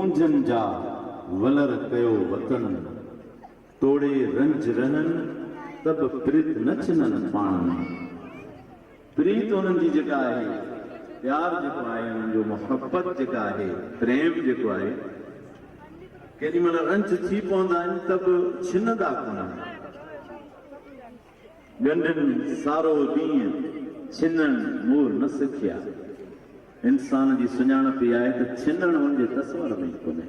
اونجهن جا ولر ڪيو وطن، توڙي رنج رهن ته به پريت نه ڇنن پاڻ ۾. پريت هنن جي جيڪا آهي، پيار جيڪو آهي هنن جو، محبت جيڪا آهي، پريم جيڪو آهي، ڪيڏي مهل رنج ٿي پوندا آهن ته به ڇنندا ڪونهن. ڳنڍين سارو ڏينهن ڇنڻ مور نه سکيا. انسان جي سڃاڻپ اها آهي ته ڇنڻ هن جي تصور ۾ ئي ڪونهي.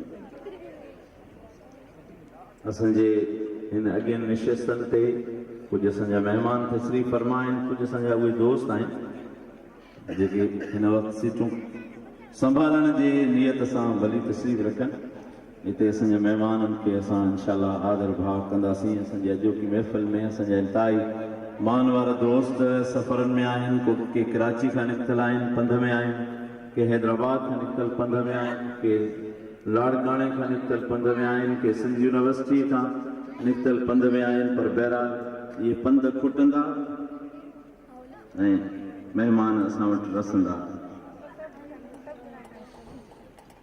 اسان جي هن اڳين نشستن تي ڪجهه اسان جا مهمان تشريف فرما آهن، ڪجهه اسان جا اهي دوست آهن. جيڪي هن وقت سيٽون سنڀالڻ جي نيت سان ڀلي تشريف رکن هتي اسان جي مهمانن کي اسان انشاء الله آدر ڀاء ڪنداسين اسان جي اڄوڪي محفل ۾ اسان جا انتهائي مان وارا دوست سفرن ۾ آهن ڪو ڪي ڪراچي کان نڪتل آهن پنڌ ۾ آهن ڪي حيدرآباد کان نڪتل پنڌ ۾ آهن ڪي لاڙڪاڻي کان نڪتل پنڌ ۾ آهن ڪي سنڌ يونيورسٽي کان نڪتل پنڌ ۾ آهن پر بهرحال اهي پنڌ کٽندا ۽ مهمان اسان وٽ رسندا.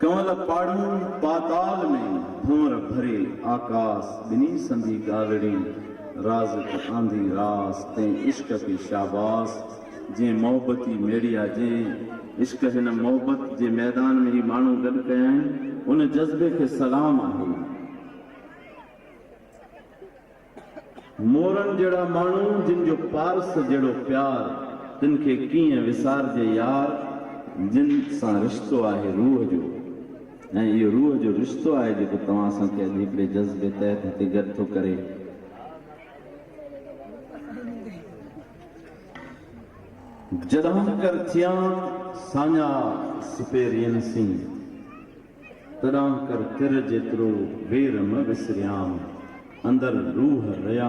ڪنول پاڙو پاتال ۾ ڀنور ڀري آڪاس ٻني سندي ڳالڙي رازق آنڌي راس تين عشق کي شاباس جين محبتي ميڙيا جين عشق هن محبت جي ميدان ۾ هي ماڻهو گڏ ڪيائين ان جذبي کي سلام آهي. مورن جهڙا ماڻهو جن جو پارس جهڙو پيار تن کي ڪيئن وسارجي يار جن سان رشتو آهي روح جو ۽ اهو روح جو رشتو آهي جيڪو توهان اسان کي اڄ هڪڙي جذبي تحت هتي گڏ ٿو ڪري. جڏهن ڪر ٿيان ساڃاهه سپهرين سين تڏانڪر تر جيترو وير مه وسريام، اندر روح ريا.